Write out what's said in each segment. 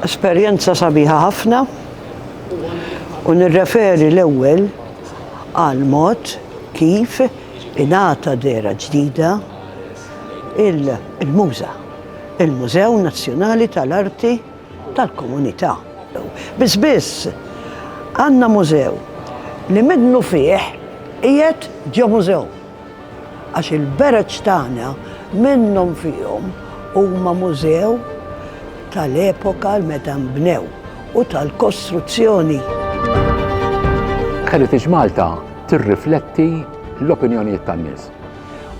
Esperjenza sabiħa ħafna u nirreferi l-ewwel għal mod kif ingħata dera ġdida il-muża, il-Mużew Nazzjonali tal-Arti tal-Komunità. Biss biss għandna mużew li minnu fih qiegħed ġo mużew. Għax il-bereġ tagħna minnhom fihom huma mużew tal-epoka meta nbnew u tal-kostruzzjoni. Heritage Malta tirrifletti l-opinjonijiet tan-nies.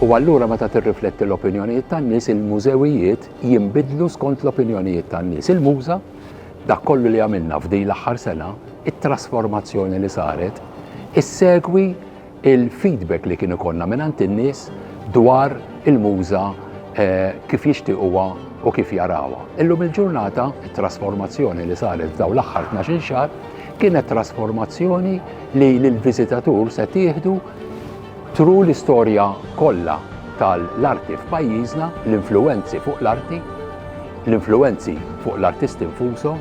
U allura meta tirrifletti l-opinjonijiet tan-nies, il-mużewijiet jinbidlu skont l-opinjonijiet tan-nies. Il-MUŻA, dak kollu li għamilna f'din l-aħħar sena, it-trasformazzjoni li saret, issegwi il-feedback li kien ikollna mingħand in-nies dwar il-muża eh, kif jixtiequha u kif jarawha. Illum il-ġurnata, it-trasformazzjoni li saret f'daw l-aħħar 12 xahar kienet trasformazzjoni li l-viżitatur se tieħdu tru l-istorja kollha tal-arti f'pajjiżna, l-influenzi fuq l-arti, l-influenzi fuq l-artisti nfushom,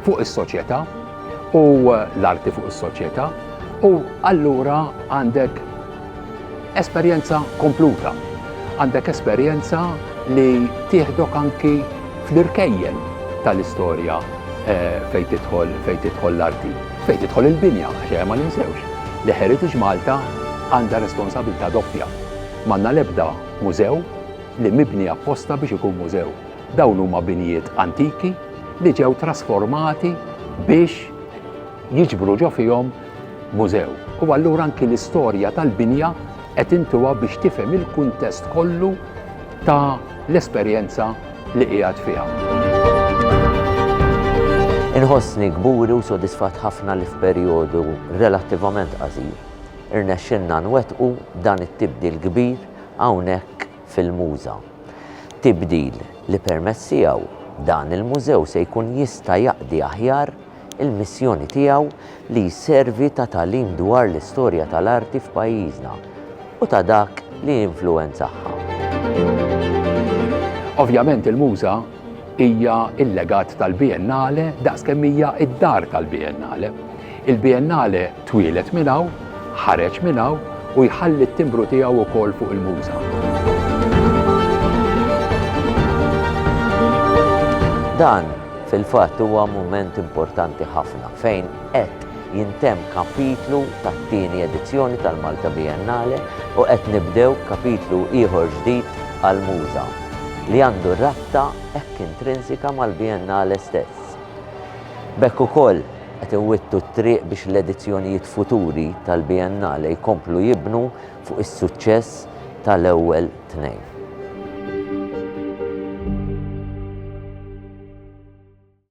fuq is-soċjetà u l-arti fuq is-soċjetà u allura għandek esperjenza kompluta. Għandek esperjenza li tieħdok anki fl-irkejjen tal-istorja eh, fejn tidħol fejn tidħol l-arti, fejn tidħol il-binja, xejn ma ninsewx li Heritage Malta għandha responsabilità doppja. Manna lebda mużew li mibni apposta biex ikun mużew. Dawn huma binjiet antiki li ġew trasformati biex jiġbru ġo fihom mużew. U allura anki l-istorja tal-binja qed intuha biex tifhem il-kuntest kollu ta' l-esperjenza li qiegħed fiha. Inħossni kburi u sodisfatt ħafna li f'perjodu relattivament qasir irnexxilna nwettqu dan it-tibdil kbir hawnhekk fil-Muża. Tibdil li permezz tiegħu dan il-mużew se jkun jista' jaqdi aħjar il-missjoni tiegħu li jservi ta' tagħlim dwar l-istorja tal-arti f'pajjiżna u ta' dak li jinfluwenzahha. Ovvjament il-Muża Hija l-legat tal-Biennale daqs kemm hija d-dar tal-Biennale. Il-Biennale twieled minn hawn, ħareġ minn hawn u jħalli t-timbru tiegħu wkoll fuq il-muża. Dan fil-fatt huwa mument importanti ħafna fejn qed Jintemm kapitlu tat-tieni edizzjoni tal-Malta Biennale u qed nibdew kapitlu ieħor ġdid għall-Muża, li għandu rabta hekk intrinsika mal-Biennale stess. B'hekk ukoll qed inwittu t-triq biex l-edizzjonijiet futuri tal-Biennale jkomplu jibnu fuq is-suċċess tal-ewwel tnejn.